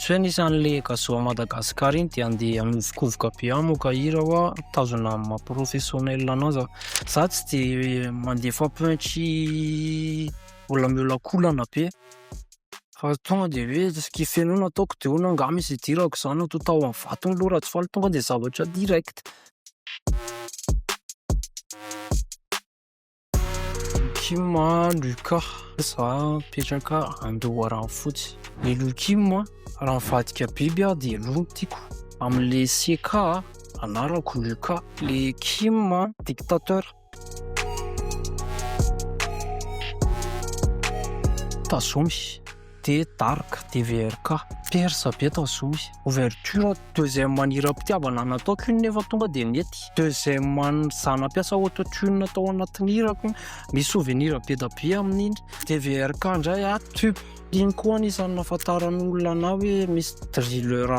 Tsy hoe nisy an'le Gazoa Madagascar iny dia andeha hanovokovoka be hamoaka hira hoa tazona amin'ny maha professionnel anazy aho. Za tsy dia mandefa punch mbola miolakolana be fa tonga dia hoe tsy kife noho ny ataoko dia hono angaha misy hidirako zany na toa tahon'ny vatony loha Rajofaly tonga dia zavatra direct. Kim an, Lucas, za mipetraka Andoharanofotsy. Ny Lou Kim an, raha mivadika biby aho dia Lou no tiako. Amin'ilay CK an, anarako Lucas. Ilay Kim an, dictateur. Tazomy. de dark DVRK. Persa be tao zohy. Ouverture deuxième an'i Hiram-pitiavana nataoko iny nefa tonga dia nety. Deuxième an'i za nampiasa auto-tune tao anatin'ny hirako iny. Misy souvenir be da be amin'iny. DVRK indray a tube. Iny koa anisan'ny nahafantaran'ny olona anah hoe misy drilleur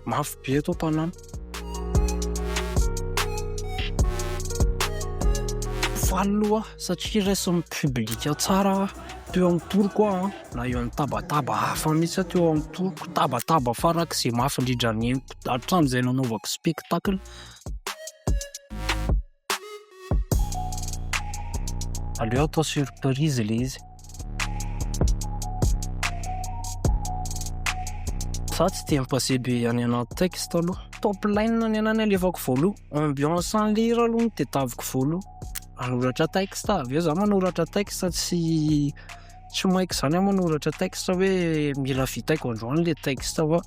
mafy be eto an-tanàna. Faly aloha aho satria raisin'ny public tsara teo amin'ny toroko aho na eo amin'ny tabataba hafa mihitsy aho teo amin'ny toroko, tabataba farak'izay mafy indrindra neniko hatramin'izay nanaovako spectacle. Aleo atao surprise le izy. Za tsy dia mi-passé be any anaty texte aloha. Top line ny anahy no alefako voaloha. Ambiance an'i lira aloha no tadiaviko voaloha. Manoratra texte, avy eo za manoratra texte tsy. tsy maika izany aho manoratra texte hoe mila vitaiko androany le texte fa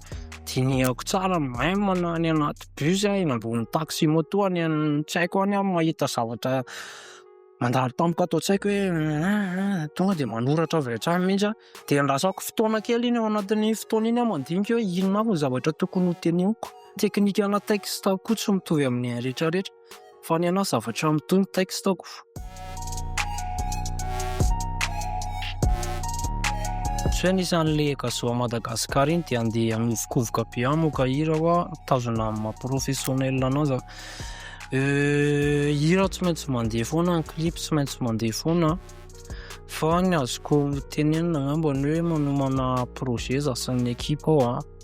dinihako tsara même na any anaty bus aho eny ambony taxi moto any an tsy haiko any aho mahita zavatra mandalo tampoka ato an-tsaiko hoe ah, ah, ah, tonga dia manoratra avy hatrany mihitsy aho dia andrasako fotoana kely iny ao anatin'ny fotoana iny aho mandinika hoe inona avy ny zavatra tokony ho teneniko teknikana texte koa tsy mitovy amin'ny rehetrarehetra Fa ny anao zavatra mitombo textoko. Tsy hoe nisy an'le Gazoa Madagascar iny dia andeha hanovokovoka be hamoaka hira hoa mitazona amin'ny maha professionnel anao za. Euh, hira tsy maintsy mandeha foana, ny clip tsy maintsy mandeha foana. Fa ny azoko tenenina angambany hoe manomana projet za sy ny ekipa ao a.